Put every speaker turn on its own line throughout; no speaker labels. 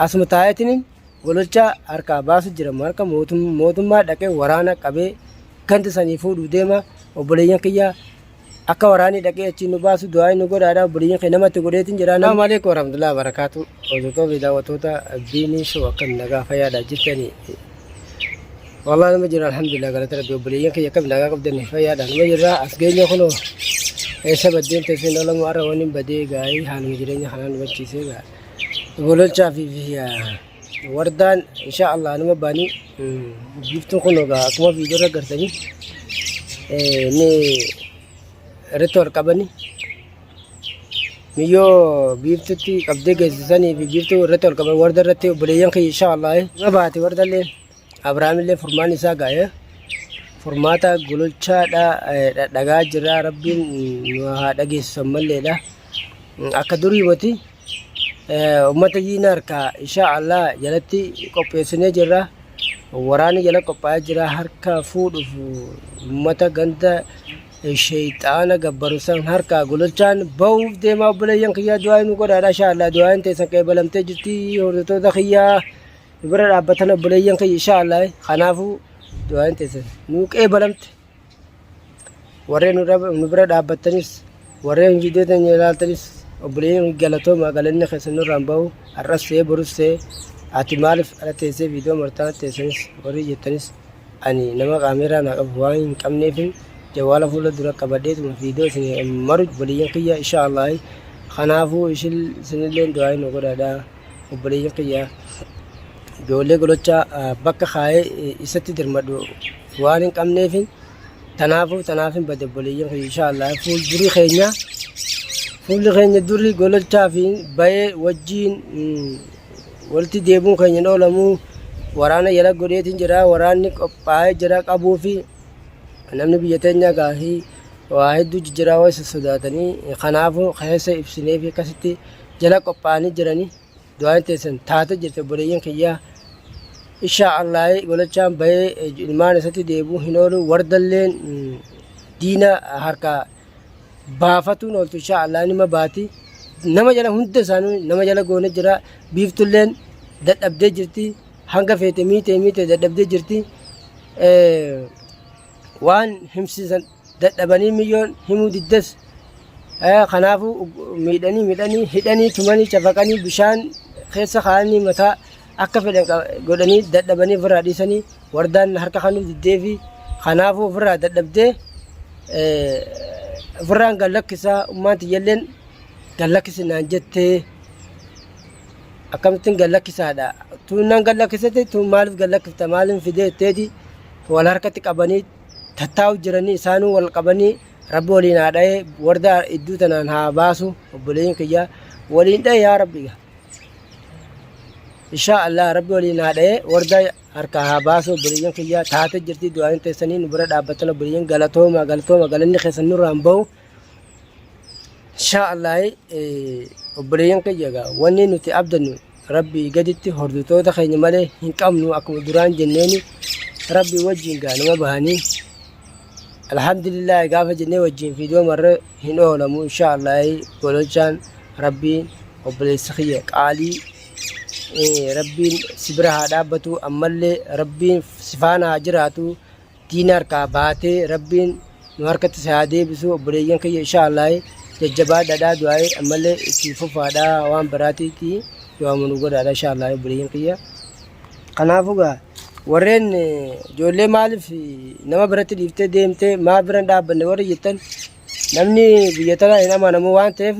Asuma taa'eetiniin gololchaa harkaa baasu jira marka mootummaa dhaqee waraana qabee ganda sanii fuudhuu deema obboleeyyan kiyya akka waraanii dhaqee achiin nu baasu du'aa nu godhaadha obboleeyyan kee namatti godheetiin jedha. Assalamu alaikum warahmatullahi wabarakatuh. Hordoftoota fi daawwattoota Biinii Show akkam nagaa fayyaadha jirtanii. Wallah nama jira alhamdulillah galata rabbi obboleeyyan kiyya akkam nagaa qabdanii fayyaadha nama jira as geenye kunoo eessa baddeen teesseen olamu arra waniin badee gaa'ii haaluma jireenya kanaan hubachiisee gaa'ii. Gololchaa fi wardaan insha Allah anuma baanii giftuun kun ogaa akkuma viidiyoo irra gartanii ni irratti wal qabani miyyoo biiftutti qabdee geessisanii fi biiftuu irratti wal qaban warda irratti obboleeyyan kiyya insha Allah ma baate wardallee Abrahaamillee furmaanni isaa gaa'ee furmaata gololchaadha dhadhagaa jira rabbiin nu haa dhageessisu ammalleedha akka durii miti ummata yiina harkaa insha allah jalatti qopheessinee jirra waraanni jala qophaa'ee jira harka fuudhuuf ummata ganda sheeyxaana gabbaru san harkaa gololchaan ba'uuf deemaa obboleeyyan kiyyaa du'aa nu godhaadha insha allah du'aa hin teessan qeebalamtee jirti hordoftoota kiyyaa nu bira dhaabbatan obboleeyyan kiyya insha Allah kanaafuu du'aan teessan nuu qeebalamte warreen nu bira dhaabbattanis warreen viidiyoo teenya ilaaltanis obboleeyyan galatooma galanni keessan nurraan bahu har'as ta'ee borus ta'ee ati maaliif ala teessee viidiyoo martaa teessanis warri jettanis ani nama kaameeraa naa qabu waan hin qabneefin jawwaala fuula dura qabadheetuma viidiyoo isin maru obboleeyyan kiyya insha Allah kanaafuu isinillee du'aa nu godhaadhaa. obboleeyyan kiyya ijoollee golocha bakka kaa'ee isatti dirmadhu waan hin qabneef tanaafuu tanaaf hin bade obboleeyyan kiyya inshaallah fuuldurii keenya fuulli keenya durii golochaa fi bayee wajjiin walitti deebuun keenya hin oolamu waraana yala godheetiin jira waraanni qophaa'ee jira qabuu fi namni biyya teenyaa gaahii waa hedduu jijjiraa wayisa sodaatanii kanaafuu keessa ibsinee fi akkasitti jala qophaa'anii jirani du'aan teessan taata jirti obboleeyyan kiyyaa ishaa allaahi golachaan bahee ilmaan isatti deebuu hin oolu wardalleen diina harka baafatuun ooltu ishaa allaahi nima baati nama jala hunda isaanii nama jala goone jira biiftulleen dadhabdee jirti hanga feete miite miite dadhabdee jirti waan himsiisan dadhabanii miyyoon himuu diddes kanaafuu miidhanii midhanii hidhanii tumanii cafaqanii bishaan keessa kaa'anii mataa akka fedhan godhanii dadhabanii ofirraa dhiisanii wardaan harka kanuu diddee fi kanaafuu ofirraa dadhabdee ofirraan gad lakkisaa ummaan tiyyalleen gad lakkisi naan jettee akkamittiin gad lakkisaadha tuunnaan gad lakkisatti tuun maaliif gad lakkifta maaliin fidee jetteeti wal harkatti qabanii tattaa'u jiranii isaanuu wal qabanii rabbi waliin haa dha'ee warda idduu tanaan haa baasu obboleeyyin kiyya waliin dha'e yaa rabbi ga inshaa allah rabbi waliin haa dha'ee warda harkaa haa baasu obboleeyyin kiyya taate jirti du'aanin teessanii nu bira dhaabbatan obboleeyyin galatooma galatooma galanni keessan nurraan ba'u inshaa allah obboleeyyin kiyya ga wanni nuti abdannu Rabbii gaditti hordotoota keenya malee hin qabnu akkuma duraan jenneeni rabbii wajjin gaa nama bahanii alhamdulillah gaafa jennee wajjin fiidoo marra hin oolamu insha allahi gololchaan rabbiin obboleessa kiyya qaalii rabbiin si bira haa dhaabbatu ammallee rabbiin si faana haa jiraatu diina harkaa baatee rabbiin nu harkatti si haa deebisu obboleeyyan kiyya ishaa allaahi jajjabaadhadhaa du'aayi ammallee itti fufaadhaa waan biraatiitti du'aamu nu godhaadha ishaa allaahi obboleeyyan kiyya kanaafuu gaa warreen ijoollee maaliif nama biratti dhiiftee deemtee maa biran dhaabbanne warri jettan namni biyya tanaa hin amanamu waan ta'eef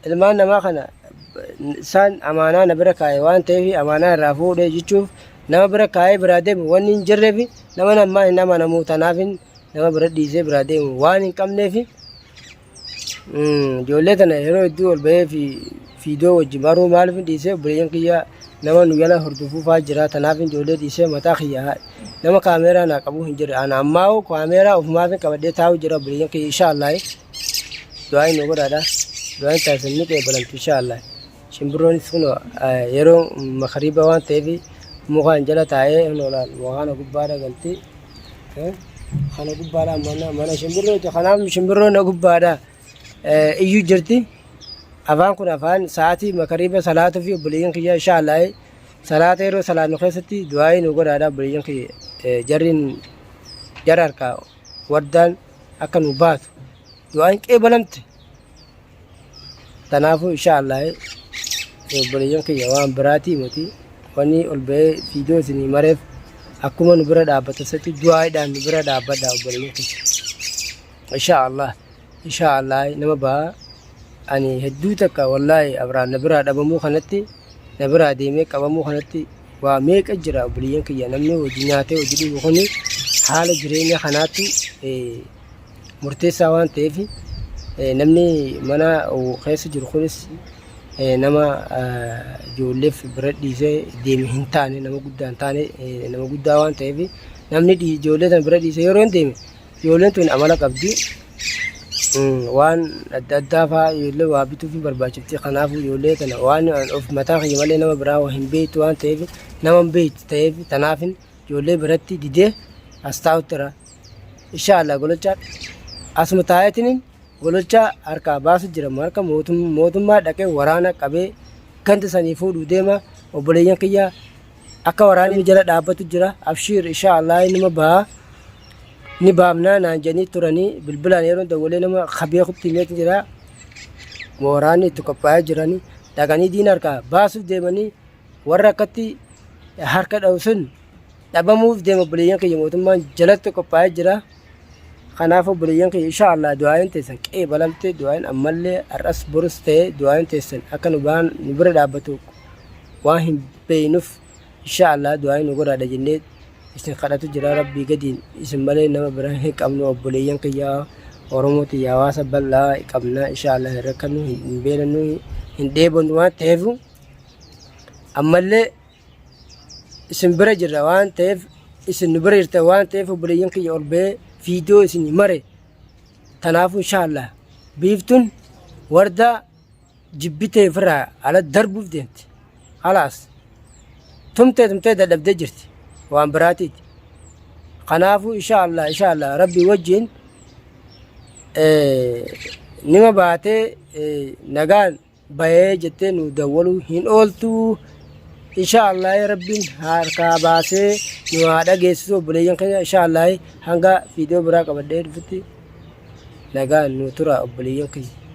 Ilmaan namaa kana isaan amaanaa na bira kaa'e waan ta'eef amaanaa irraa fuudhee jechuuf nama bira kaa'ee biraa deemu wanni hin jirreef nama namaa hin amanamu tanaaf nama bira dhiisee biraa deemu waan hin qabneef ijoollee tana yeroo hedduu ol bahee fi fiidoo wajjin baruu maaliif hin dhiisee obboleeyyan kiyyaa nama nu jala hordofuufaa jira tanaaf ijoollee dhiisee mataa kiyyaa nama kaameeraa naa qabu hin jirre ana ammaa kaameeraa ofumaaf qabadhee taa'u jira obboleeyyan kiyya inshaallah du'aa inni godhaadha. Du'aan taasisan ni qeebalamtu insha Allah. Shimbirroonis kun yeroo makariiba waan ta'eef mukaan jala taa'ee loolaan waqaana gubbaadha galti. Kana gubbaadha mana mana shimbirrooti. Kanaaf shimbirroon na gubbaadha iyyuu jirti. Afaan kun afaan sa'aatii makariiba salaatuu fi obboleeyyan kiyya insha Allah salaata yeroo salaannu keessatti du'aa inni godhaadha obboleeyyan kiyya jarriin jara harkaa wardaan. akka nu baatu du'aan qeebalamte tanaafuu insha Allah obboleeyyan kiyya waan biraatii miti wanni ol ba'ee fiidoo isinii mareef akkuma nu bira dhaabbatan satti du'aa'idhaan nu bira dhaabbadha obboleeyyan kiyya insha Allah insha Allah nama ba'a ani hedduu takka wallaahi abraan na biraa dhabamuu kanatti na biraa deemee qabamuu kanatti Waa meeqa jira obboleeyyan kiyya namni hojii nyaatee hojii dhugu kun haala jireenya kanaatti murteessaa waan ta'eef namni mana keessa jiru kunis nama ijoolleef bira dhiisee deeme hin taane nama guddaa hin taane nama guddaa waan ta'eef namni ijoollee sana bira dhiisee yeroo hin deeme Ijoolleen tun amala qabdi. Waan adda addaa fa'aa ijoollee waa bituuf hin barbaachifti. Kanaafuu ijoollee tana waan of mataa kiyya malee nama biraa hin beektu waan ta'eef nama hin beektu ta'eef tanaafin ijoollee biratti didee as taa'utti irra. Inshaallah gololchaa asuma taa'eetiniin gololchaa harkaa baasu jira harka mootummaa dhaqee waraana qabee ganda sanii fuudhuu deema obboleeyyan kiyya Akka waraanni jala dhaabbatu jira abshiir ishaa allaa inuma baha ni baamnaa naan jedhanii turanii bilbilaan yeroon dawwalee nama kabeekutti himeetu jira waraanni itti qophaa'ee jiranii dhaqanii diina harkaa baasuuf deemanii warra akkatti harka dha'u sun dhabamuuf deema obboleeyyan keenya mootummaan jalatti qophaa'ee jira. Kanaaf obboleeyyan kiyya insha Allah du'aayin teessan qe'ee balamte du'aayin ammallee har'as borus ta'ee du'aayin teessan akka nu baan nu bira dhaabbatu waan hin beeynuuf insha Allah du'aayin nu godhaadha jennee isin kadhatu jira rabbii gadiin isin malee nama biraa hin qabnu obboleeyyan kiyya Oromoo tiyya hawaasa bal'aa qabna insha Allah hin rakkannu hin beelannu hin dheebonnu waan ta'eef ammallee isin bira jirra waan ta'eef isin nu bira jirta waan ta'eef obboleeyyan kiyya ol ba'ee viidiyoo isin mare tanaafuu inshaallah biiftuun wardaa jibbitee ofirraa ala darbuuf deemti halaas tumtee tumtee dadhabdee jirti waan biraatiiti kanaafuu inshaallah inshaallah rabbii wajjiin eh, nima baatee eh, nagaan bayee jettee nuu dawwaluu hin ooltuu insha Allah rabbiin harkaa baasee nu haa dhageessisu obboleeyyan keenya insha Allah hanga viidiyoo biraa qabadhee dhufutti nagaan nu tura obboleeyyan keenya.